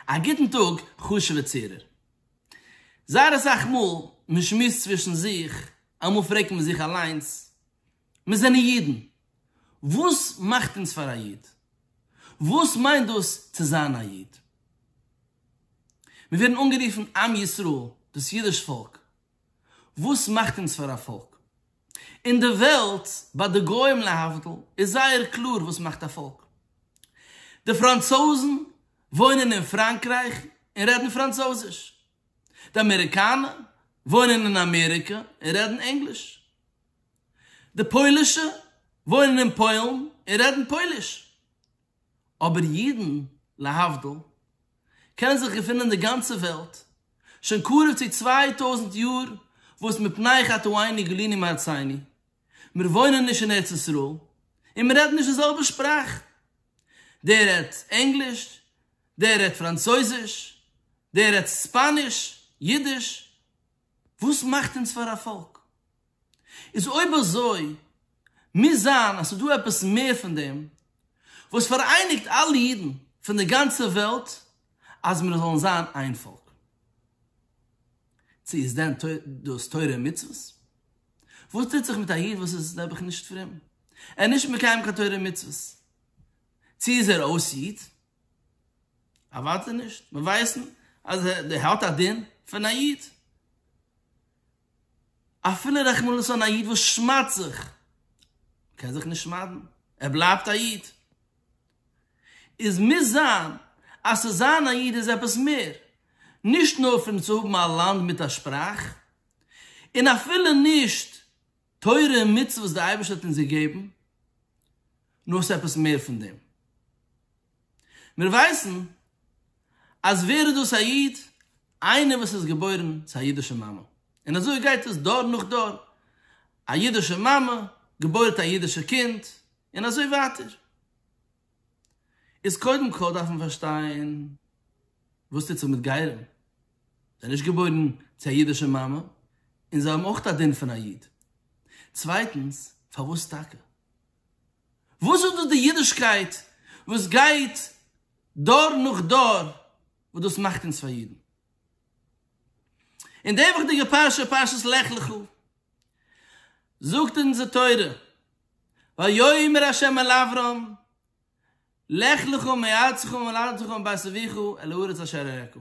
א גוטן טאג חשוב'ע צוהערער. זייער אסאך מאל מען שמועסט צווישן זיך, אמאל פרעגט מען זיך אליינס, מיר זענען אידן, וואס מאכט אונז פאר א איד? וואס מיינט דאס צו זיין א איד? מיר ווערן אנגערופן עם ישראל, דאס אידיש פאלק, וואס מאכט אונז פאר א פאלק? אין די וועלט, ביי די גוים להבדיל, איז זייער קלאר וואס מאכט א פאלק. די פראנצויזן וואוינען אין פראנקרייך און רעדן פראנצויזיש. די אמעריקאנער וואוינען אין אמעריקע און רעדן ענגליש. די פוילישע וואוינען אין פוילן און רעדן פויליש. אבער אידן, להבדיל, קענען זיך געפינען אין די גאנצע וועלט, שוין קרוב צו צוויי טויזנט יאר, וואס מפני חטאינו גלינו מארצינו, מיר וואוינען נישט אין ארץ ישראל, און מיר רעדן נישט די זעלבע שפראך, דער רעדט ענגליש, דער רעדט פראנצויזיש, דער רעדט ספאניש, אידיש, וואס מאכט אונז פאר א פאלק? איז אויב אזוי מוז זיין אז ס'איז דא עפעס מער פון דעם וואס פאראייניגט אלע אידן פון די גאנצע וועלט אז מיר זאלן זיין איין פאלק. צו איז דען דאס תורה און מצוות? וואס טוט זיך מיט א איד וואס איז נעבעך נישט פרום? ער איז נישט מקיים קיין תורה און מצוות. צו איז ער אויס איד? אוודאי נישט. מיר ווייסן אז ער האט א דין פון א איד. אפילו רחמנות אן א איד וואס שמד'ט זיך, קען זיך נישט שמד'ן, ער בלייבט א איד. איז מוז זיין אז צו זיין א איד איז עפעס מער, נישט נאר פון צו האבן א לאנד מיט א שפראך, און אפילו נישט תורה און מצוות וואס דער אייבערשטער האט אונז געגעבן, נאר עס איז עפעס מער פון דעם. מיר ווייסן אז ווער איז דאס א איד? איינער וואס איז געבוירן צו א אידישע מאמע, און אזוי גייט עס דור נאך דור, א אידישע מאמע געבוירט א אידישע קינד, און אזוי ווייטער. איז קודם כל דארף מען פארשטיין וואס טוט זיך מיט גרים, זיי זענען נישט געבוירן צו א אידישע מאמע, און זיי האבן אויך א דין פון א איד. צווייטנס, פארוואס טאקע? וואס איז דאס די אידישקייט וואס גייט דור נאך דור וואס דאס מאכט אונז פאר אידן? אין די וואכדיגע פרשה פרשת לך לך זאגט אונז די תורה ויאמר ה' אל אברם לך לך מארצך וממולדתך ומבית אביך אל הארץ אשר אראך.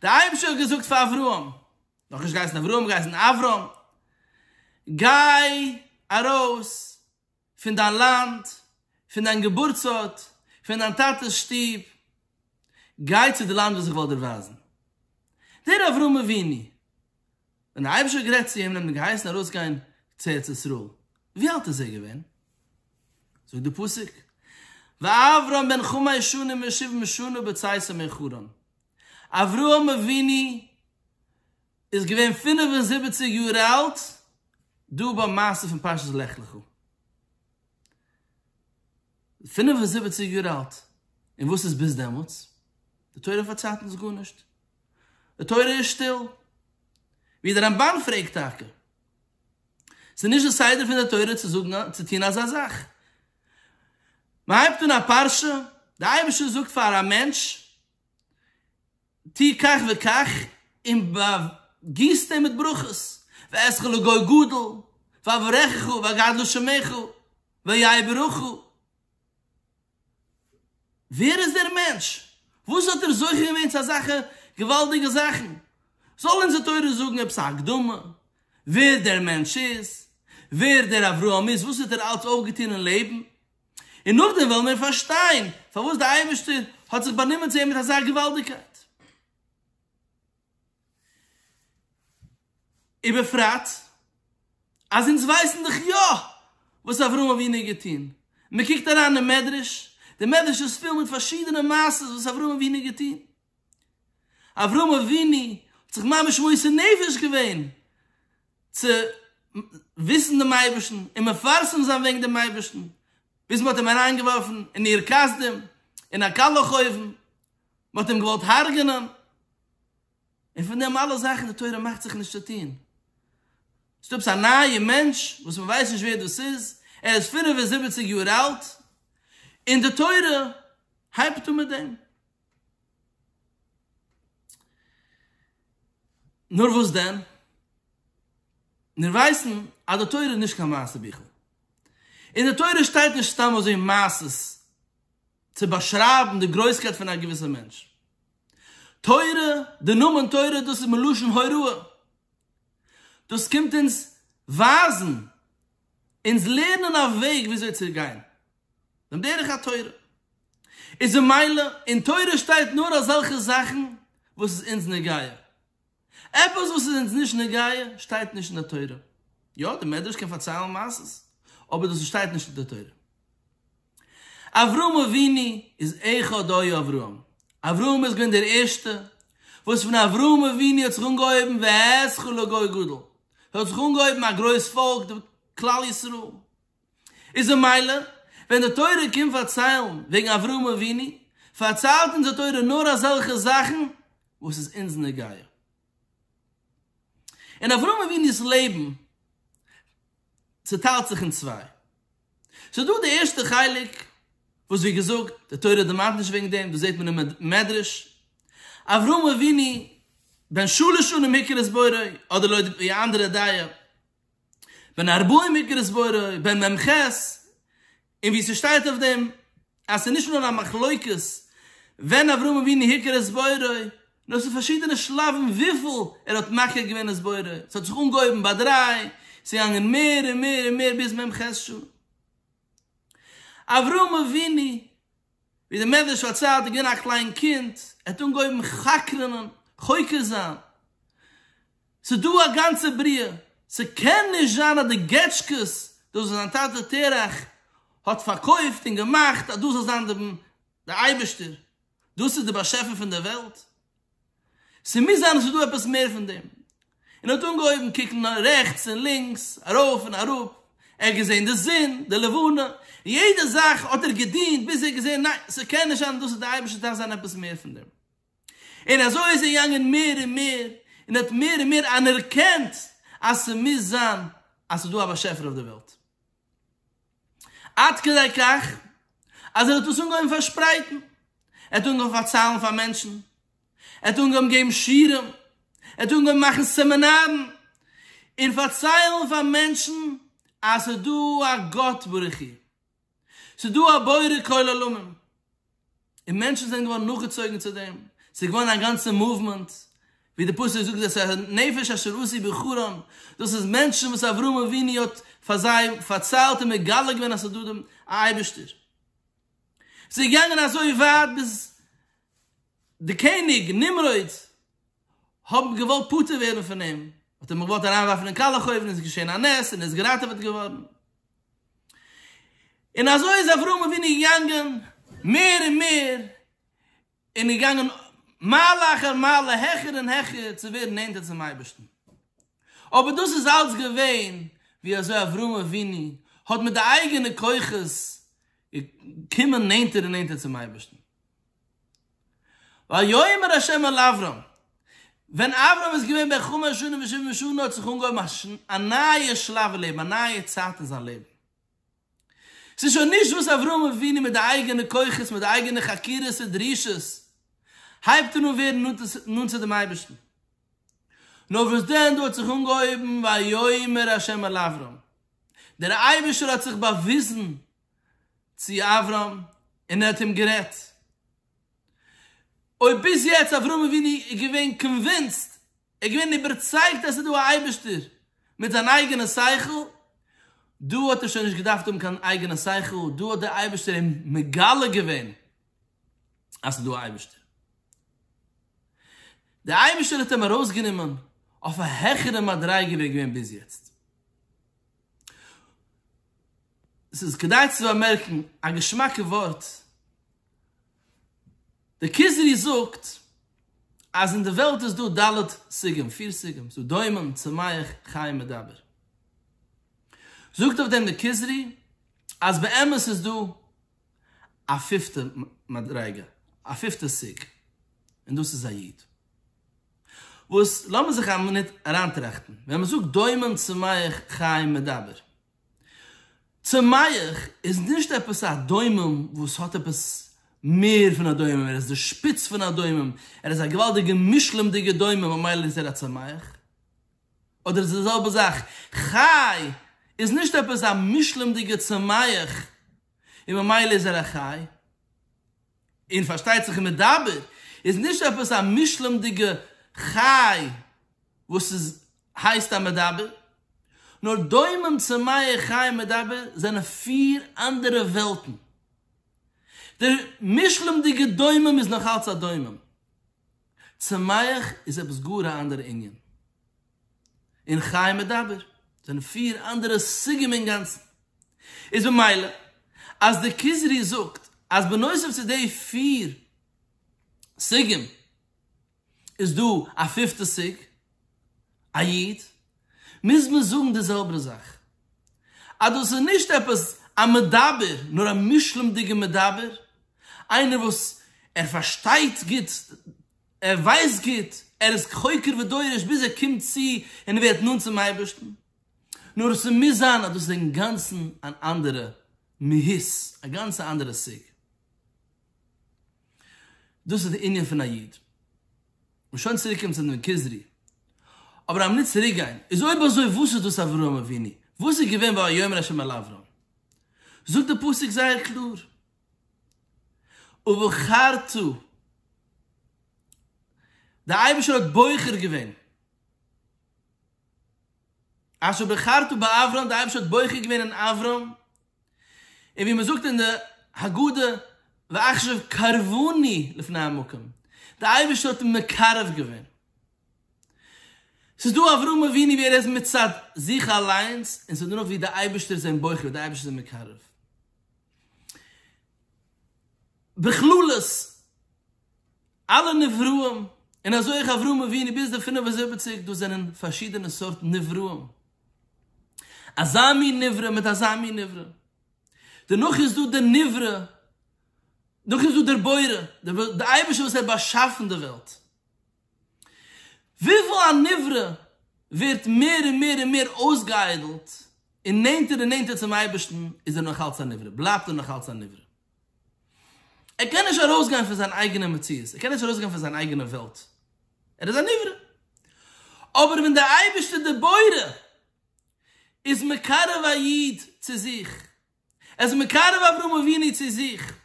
דער אייבערשטער האט געזאגט פאר אברהם, נאך נישט געהייסן אברהם, געהייסן אברם, גיי ארויס פון דיין לאנד, פון דיין געבורטס ארט, פון דיין טאטע'ס שטוב, גיי צו די לאנד וואס איך וועל דיר ווייזן. דער אברהם אבינו. ווען דער אייבערשטער האט גערעדט צו אים און אים געהייסן ארויסגיין צו ארץ ישראל, ווי אלט איז ער געווען? זאגט דער פסוק, ואברם בן חמש שנים ושבעים שנה בצאתו מחרן, אברהם אבינו איז געווען פֿינף און זיבעציק יאר אלט דא ביים מעשה פון פרשת לך לך. פֿינף און זיבעציק יאר אלט, און וואס איז ביז דעמאלטס? די תורה פארציילט אונז גארנישט, די תורה איז שטיל. ווי דער רמב ם פרעגט טאקע, ס'איז נישט די סדר פון די תורה צו זאגן צו טון אזא זאך. מען הייבט אן א פרשה, די אייבערשטער זאגט פאר א מענטש, טוה כך וכך און באגיס דעם מיט ברכות, ואעשך לגוי גדול, ואברכך ויגדלו שמך, ויהא ברוך. ווער איז דער מענטש? וואס האט ער זוכה געווען צו אזאלכע געוואלדיגע זאכן? זאל אונזער תורה זאגן עפעס א הקדמה ווער דער מענטש איז, ווער דער אברהם איז, וואס האט ער אלץ אויפגעטון אין לעבן, און נאכדעם וועלן מיר פארשטיין פארוואס דער אייבערשטער האט זיך באנומען צו אים מיט אזא געוואלדיגקייט. ובפרט אז אונז ווייסן דאך יא וואס אברהם אבינו האט געטון. מען קוקט אריין אין מדרש, דער מדרש איז פול מיט פארשידענע מעשות וואס אברהם אבינו האט געטון. אברהם אבינו האט זיך ממש מוסר נפש געווען צו וויסן דעם אייבערשטן און מפרסם זיין וועגן דעם אייבערשטן, ביז מ'האט אים אריינגעווארפן אין עיר כסדים, אין א קאלעך אויוון, מ'האט אים געוואלט הרג'נען, און פון דעם אלע זאכן די תורה מאכט זיך נישט צו טון. ס'איז דא עפעס א נייע מענטש וואס מ'ווייסט נישט ווער דאס איז, ער איז פֿינף און זיבעציק יאר אלט, און די תורה הייבט אן מיט דעם. נאר וואס דען? מיר ווייסן אז די תורה איז נישט קיין מעשה ביכל. אין די תורה שטייט נישט סתם אזוי מעשות צו באשרייבן די גרויסקייט פון א געוויסע מענטש. תורה, די נאמען תורה, דאס איז מלשון הוראה. דאס קומט אונז ווייזן, אונז לערנען א וועג וויאזוי צו גיין. דעם דרך התורה. איז די מילה אין תורה שטייט נאר אזעלכע זאכן וואס איז אונז נוגע. עפעס וואס איז אונז נישט נוגע שטייט נישט אין די תורה. יא, די מדרש קען פארציילן מעשות, אבער דאס שטייט נישט אין די תורה. אברהם אבינו איז אחד היה אברהם. אברהם איז געווען דער ערשטער, וואס פון אברהם אבינו האט זיך אנגעהויבן והתחיל לגוי גדול. ס'האט זיך אנגעהויבן א גרויס פאלק, כלל ישראל. איז א מעלה, ווען די תורה קומט פארציילן וועגן אברהם אבינו, פארציילט אונז די תורה נאר אזעלכע זאכן וואס איז אונז נוגע. אין אברהם אבינו'ס לעבן צוטיילט זיך אין צוויי. ס'איז דא די ערשטע חלק, וואס ווי געזאגט, די תורה דערמאנט נישט וועגן דעם, דאס זעט מען אין מדרש, אברהם אבינו בן שלש שנים היכר את בוראו, אדער לויט די אנדערע דעה, בן ארבעים אגרות בורא, בן מ ח, און ווי ס'שטייט אויף דעם אז ס'איז נישט נאר א מחלוקת ווען אברהם אבינו היכה את בוראו, נאר ס'איז פארשידענע שלבים וויפיל ער האט מכה געווען את בוראו, ס'האט זיך אנגעהויבן ביי דריי, ס'געגאנגען מער און מער און מער ביז מ ח. אברהם אבינו. ווי דער מדרש פארציילט איז געווען א קליין קינד, ער האט אנגעהויבן חקר'נען, חוקר זיין, ס'איז דא א גאנצע בריאה, ס'קען נישט זיין אז די געטשקעס, דאס וואס זיין טאטע תרח האט פארקויפט און געמאכט, אז דאס זאל זיין די אייבערשטער, דאס איז דער באשעפער פון דער וועלט, ס'מוז זיין אז ס'איז דא עפעס מער פון דעם. און האט אנגעהויבן קוקן רעכטס און לינקס, ארויף און אראפ, ער האט געזען די זון, די לבנה, און יעדע זאך האט ער געדינט ביז ער האט געזען ניין, ס'קען נישט זיין אז דאס איז די אייבערשטער, ס'דארף זיין עפעס מער פון דעם. און אזוי איז ער געגאנגען מער און מער, און האט מער און מער אנערקענט אז ס'מוז זיין אז ס'איז דא א באשעפער אויף די וועלט. עד כדי כך אז ער האט דאס אנגעהויבן פארשפרייטן, ער האט אנגעהויבן פארציילן פאר מענטשן, ער האט אנגעהויבן געבן שיעורים, ער האט אנגעהויבן מאכן סעמינארן און פארציילן פאר מענטשן אז ס'איז דא א גאט ברוך הוא, ס'איז דא א בורא כל עולמים. און מענטשן זענען געווארן נאכגעצויגן צו דעם, ס'איז געווארן א גאנצע מאוומענט, ווי די פסוק זאגט דאס אשר נפש אשר עשי בחרן, דאס איז מענטשן וואס אברהם אבינו האט פאר זיי פארציילט און מגלה געווען אז ס'איז דא דעם אייבערשטער. ס'איז געגאנגען אזוי ווייט ביז די קעניג נמרוד האבן געוואלט פטור ווערן פון אים, האט ער אים געוואלט אריינווארפן אין קאלעכאויוון, איז געשען א נס און ער איז געראטעוועט געווארן. און אזוי איז אברהם אבינו געגאנגען מער און מער, און איז געגאנגען מעלה אחר מעלה, העכער און העכער, צו ווערן נענטער צום אייבערשטן. אבער דאס איז אלץ געווען ווי אזוי אברהם אבינו האט מיט די אייגענע כוחות געקומען נענטער און נענטער צום אייבערשטן. ויאמר ה' אל אברם, ווען אברם איז געווען בן חמש שנים ושבעים שנה האט זיך אנגעהויבן א נייע שלב אין לעבן, א נייע צייט אין זיין לעבן. ס'איז שוין נישט וואס אברהם אבינו מיט די אייגענע כוחות, מיט די אייגענע חקירות און דרישות, הייבט ער אן ווערן נאנט צו דעם אייבערשטן. נאר וואס דען, דא האט זיך אנגעהויבן ויאמר ה' אל אברם, דער אייבערשטער האט זיך באוויזן צו אברהם און ער האט אים גערעדט. אויב ביז יעצט אברהם אבינו איז געווען קאנווינסד, ער איז געווען איבערצייגט אז ס'איז דא א אייבערשטער מיט זיין אייגענע שכל, דא האט ער שוין נישט געדארפט האבן קיין אייגענע שכל, דא האט דער אייבערשטער אים מגלה געווען אז ס'איז דא א אייבערשטער. דער אייבערשטער האט אים ארויסגענומען אויף א העכערע מדריגה ווי ער איז געווען ביז יעצט. ס'איז כדאי צו באמערקן א געשמאקע ווארט, דער כוזרי זאגט אז אין די וועלט איז דא ד' סוגים, פיר סוגים, ס'איז דא דומם, צומח, חי, מדבר. זאגט אויף דעם דער כוזרי אז באמת איז דא א פיפטע מדריגה, א פיפטע סוג, און דאס איז א איד. וואס, לאמיר זיך א מינוט אריינטראכטן, ווען מען זאגט דומם צומח חיים מדבר, צומח איז נישט עפעס א דומם וואס האט עפעס מער פון א דומם, ער איז די שפיץ פון א דומם, ער איז א געוואלדיגע מושלם'דיגע דומם ממילא איז ער א צומח, אדער איז עס די זעלבע זאך, חי איז נישט עפעס א מושלם'דיגע צומח, און ממילא איז ער א חי, און פארשטייט זיך מדבר איז נישט עפעס א מושלם'דיגע חי וואס איז הייסט א מדבר, נאר דומם צמאה חי מדבר זענען פיר אנדערע וועלטן, דער מושלם'דיגע דומם איז נאך אלץ א דומם, צמח איז עפעס גאר א אנדערע ענין. און חי מדבר זענען פיר אנדערע סוגים אינגאנצן, איז ממילא אז די כוזרי זאגט אז בנוסף צו די פיר סוגים איז דא א פיפטע סוג א איד, מוז מען זאגן די זעלבער זאך, אז דאס איז נישט עפעס א מדבר, נאר א מושלם'דיגע מדבר, איינער וואס ער פארשטייט גוט ער ווייסט גוט, ער איז חוקר ודורש ביז ער קומט צו און ווערט נאנט צום אייבערשטן, נאר עס מוז זיין אז דאס איז אינגאנצן אן אנדערע מהות, א גאנץ אנדערע סוג. דאס איז די ענין פון א איד. און שוין צוריקקומען צו דעם כוזרי. אבער אז מ'ניצט צוריקגיין, איז אויב אזוי וואס איז דאס אברהם אבינו? וואס איז געווען ויאמר ה' אל אברהם? זאגט דער פסוק זייער קלאר. ובחרתו, דער אייבערשטער האט בוחר געווען, אשר בחרתו באברהם, דער אייבערשטער האט בוחר געווען אין אברהם, און ווי מען זאגט אין די הגדה, ועכשיו קרבני לפני המקום, דער אייבערשטער האט אים מקרב געווען. ס'איז דא אברהם אבינו ווי ער איז מצד זיך אליינס, און ס'איז דא נאך ווי דער אייבערשטער איז אים בוחר, דער אייבערשטער איז אים מקרב. בכללות אלע נבראים און אזוי אויך אברהם אבינו ביז די פֿינף און זיבעציק דאס זענען פארשידענע סארט נבראים אזא מין נברא מיט אזא מין נברא דערנאך איז דא דער נברא נאך איז דא דער בורא דער אייבערשטער וואס האט באשאפן די וועלט. וויפיל א נברא ווערט מער און מער און מער אויסגעאיידלט און נענטער און נענטער צום אייבערשטן איז ער נאכאלץ א נברא, בלייבט ער נאכאלץ א נברא. ער קען נישט ארויסגיין פון זיין אייגענע מציאות, ער קען נישט ארויסגיין פון זיין אייגענע וועלט, ער איז א נברא. אבער ווען דער אייבערשטער דער בורא איז מקרב א איד צו זיך, ער איז מקרב אברהם אבינו צו זיך,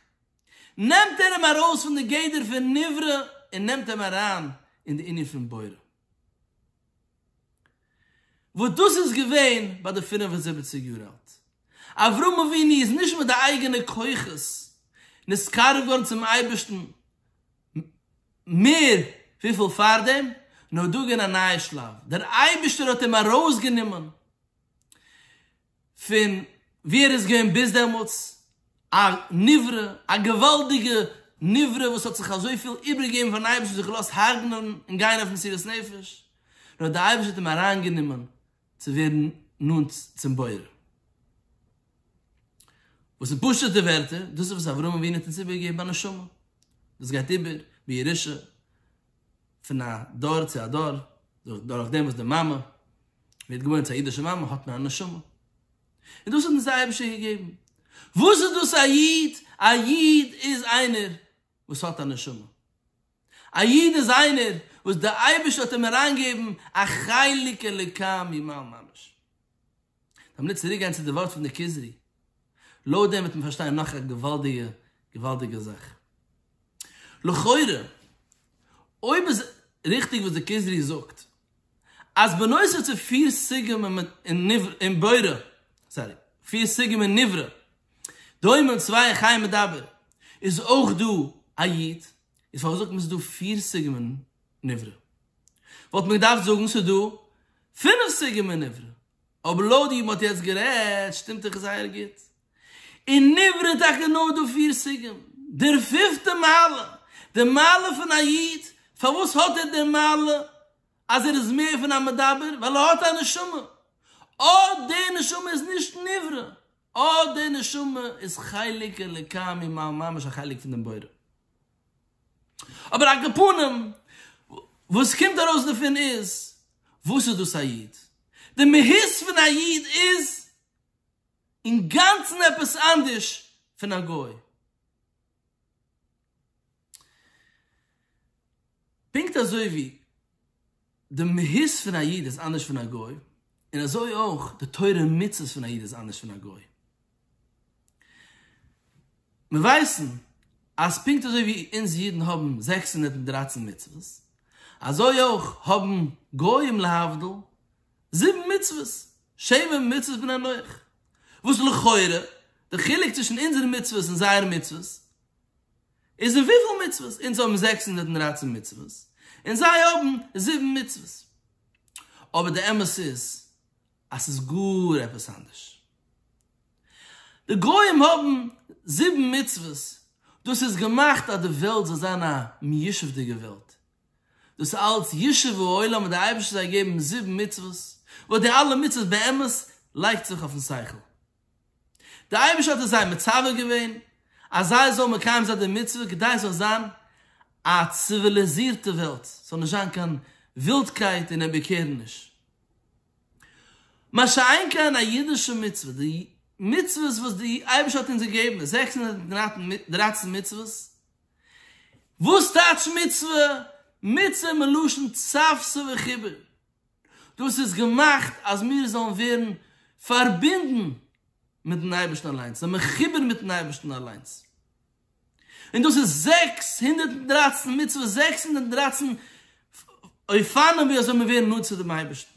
נעמט ער אים ארויס פון די גדר פון נברא און נעמט אים אריין אין די ענין פון בורא, וואס דאס איז געווען ביי די פֿינף און זיבעציק יאר אלט, אברהם אבינו איז נישט מיט די אייגענע כוחות נתקרב געווארן צום אייבערשטן מער וויפיל פארדעם, נאר דא איז געווען א נייע שלב, דער אייבערשטער האט אים ארויסגענומען, פון ווי ער איז געווען ביז דעמאלטס א נברא, א געוואלדיגע נברא וואס האט זיך אזויפיל איבערגעגעבן פארן אייבערשטן, זיך געלאזט הרג'נען און גיין אויף מסירת נפש, און האט די אייבערשטער האט אים אריינגענומען צו ווערן נאנט צום בורא. וואס אין פשוט'ע ווערטער, דאס איז וואס אברהם אבינו האט אונז איבערגעגעבן א נשמה וואס גייט איבער בירושה פון א דור צו א דור, דורך דעם וואס די מאמע ווערט געבוירן צו א אידישע מאמע האט מען א נשמה, און דאס האט אונז דער אייבערשטער געגעבן. וואס איז דאס א איד? א איד איז איינער וואס האט א נשמה. א איד איז איינער וואס דער אייבערשטער האט אים אריינגעגעבן א חלק אלוקי ממעל ממש. מיר צוריק גיין צו די ווארט פון די כוזרי, לויט דעם וועט מען פארשטיין נאך א געוואלדיגע געוואלדיגע זאך. לכאורה, אויב איז ריכטיג וואס די כוזרי זאגט, אז בנוסף צו פיר סוגים אין בורא, סארי, פיר סוגים אין נברא, דומם, צוויי, חי, מדבר, איז אויך דא א י', איז פארוואס זאגט מען ס'איז דא פיר סוגים אין נברא. וואלט מען געדארפט זאגן ס'איז דא פינף סוגים אין נברא, אבער לויט ווי מ'האט יעצט גערעדט שטימט דאך זייער גוט. אין נברא איז טאקע נאר דא פיר סוגים. דער פיפטע מעלה, די מעלה פון א איד, פארוואס האט ער די מעלה אז ער איז מער פון א מדבר? ווייל ער האט א נשמה. אט די נשמה איז נישט נברא. אט די נשמה איז חלק אלוקי ממעל ממש א חלק פון דעם בורא. אבער א גפנים וואס קומט ארויס דערפון איז, וואס איז דאס א איד? די מהות פון א איד איז אינגאנצן עפעס אנדערש פון א גוי. פונקט אזוי ווי די מהות פון א איד איז אנדערש פון א גוי, און אזוי אויך די תורה און מצוות פון א איד איז אנדערש פון א גוי. מיר ווייסן אז פונקט אזוי ווי אונז אידן האבן זעקס הונדערט און דרײַצן מצוות, אזוי אויך האבן גוים להבדיל זיבן מצוות, שבע מצוות בני נח, וואס לכאורה די חילוק צווישן אונזערע מצוות און זייערע מצוות איז אין וויפיל מצוות? אונז האבן זעקס הונדערט און דרײַצן מצוות, און זיי האבן זיבן מצוות. אבער די אמת איז אז ס'איז גאר עפעס אנדערש. די גוים האבן זיבן מצוות, דאס איז געמאכט אז די וועלט זאל זיין א מיושב'דיגע וועלט. דאס אלץ ישוב העולם האט די אייבערשטער זיי געגעבן זיבן מצוות, וואס די אלע מצוות באמת לייגט זיך אויפן שכל. דער אייבערשטער האט עס זיי מצווה געווען אז זיי זאלן מקיים זיין די מצוה כדי עס זאל זיין א ציוויליזירטע וועלט, עס זאל נישט זיין קיין ווילדקייט און אומבעקערעניש. מה שאין כן א אידישע מצוה, די מצוות וואס די אייבערשטער האט אונז געגעבן, די זעקס הונדערט און דרייצן מצוות, וואס טייטש מצוה? מצוה מלשון צב ס וחיבור, דאס איז געמאכט אז מיר זאלן ווערן פארבינדן מיט'ן אייבערשטן אליינס, זיין מחובר מיט'ן אייבערשטן אליינס. און דאס איז זעקס הונדערט און דרײַצן מצוות, זעקס הונדערט און דרײַצן אופנים ווי אזוי מיר ווערן נאנט צו דעם אייבערשטן.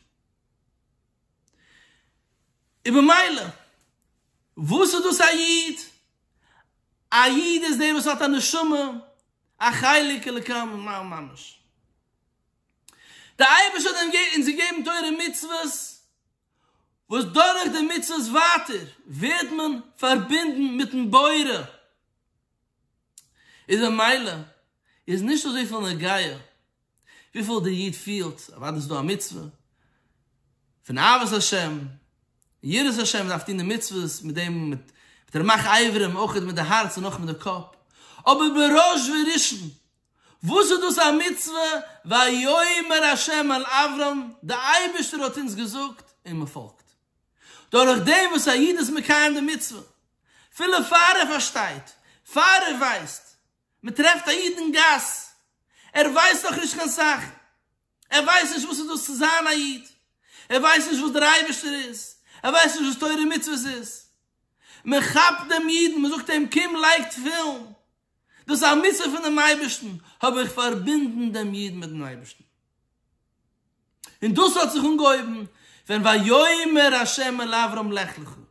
און במילא, וואס איז דאס א איד? א איד איז דער וואס האט א נשמה, א חלק אלוקי ממש. דער אייבערשטער האט אונז געגעבן תורה און מצוות, וואס דורך די מצוות ווייטער ווערט מען פארבינדן מיט'ן בורא, איז ממילא איז נישט אזויפיל נוגע וויפיל דער איד פילט, אוודאי איז דא א מצוה פון אהבת השם, יראת השם, מען דארף טון די מצוות מיט דעם, מיט רמח אברים, אויך מיט די הארץ און אויך מיט די קאפ, אבער בראש וראשון וואס איז דאס א מצוה ויאמר ה' אל אברם, דער אייבערשטער האט אונז געזאגט און מען פאלגט, דורך דעם וואס א איד איז מקיים די מצוה, אפילו פאר ער פארשטייט, פאר ער ווייסט, מען טרעפט א איד אין גאס, ער ווייסט נאך נישט קיין סאך, ער ווייסט נישט וואס איז דאס צו זיין א איד, ער ווייסט נישט וואס דער אייבערשטער איז, ער ווייסט נישט וואס תורה ומצוות איז, מען כאפט דעם אידן, מען זאגט אים קום לייג תפילין, דאס איז א מצוה פונעם אייבערשטן, האב איך פארבינדן דעם איד מיט'ן אייבערשטן. און דאס האט זיך אנגעהויבן ווען ויאמר השם אל אברם לך לך, און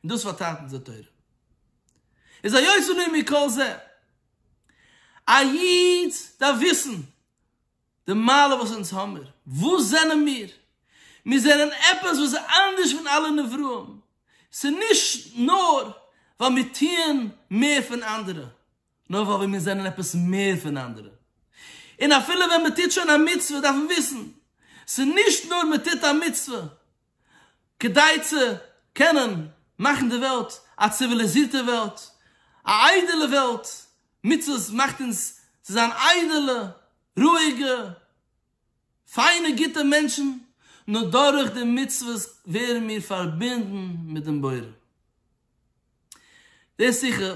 דאס פארטיילט אונז די תורה. איז היוצא לי מכל זה, א איד דארף וויסן די מעלה וואס אונז האמיר, וואס זענען מיר? מיר זענען עפעס וואס איז אנדערש פון אלע נבראים, ס'איז נישט נאר ווייל מיר טוען מער פון אנדערע, נאר ווייל מיר זענען עפעס מער פון אנדערע. און אפילו ווען מען טוט שוין א מצוה דארף מען וויסן, ס'איז נישט נאר מען טוט א מצוה, כדי צו קענען מאכן די וועלט א ציוויליזירטע וועלט, א איידעלע וועלט, מצוות מאכט אונז צו זיין איידעלע, רואיגע, פיינע גוטע מענטשן, נאר דורך די מצוות ווערן מיר פארבינדן מיט דעם בורא. די שיחה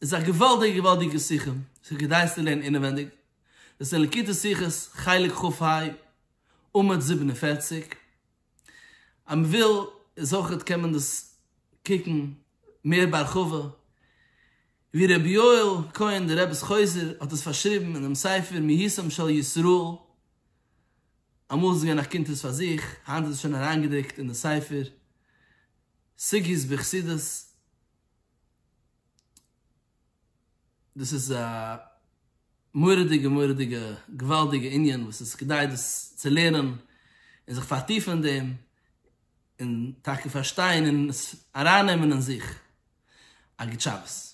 איז א געוואלדיגע געוואלדיגע שיחה וואס איז כדאי עס צו לערנען אינעווענדיג, דאס איז אין לקוטי שיחות חלק כ ה עמוד זיבן און פֿערציק. אז מ'וויל איז אויכעט קען מען דאס קוקן מער בהרחבה ווי רבי יואל כהן דער רב'ס חוזה האט עס פארשריבן אינעם ספר מהיסם של ישראל, אמאל איז עס געווען א קונטרס פאר זיך, היינט איז עס שוין אריינגעדרוקט אין די ספר סוגיות בחסידות. דאס איז א מורא'דיגע מורא'דיגע געוואלדיגע ענין וואס איז כדאי דאס צו לערנען און זיך פארטיפן אין דעם און טאקע פארשטיין און עס ארייננעמען אין זיך. א גוט שבת.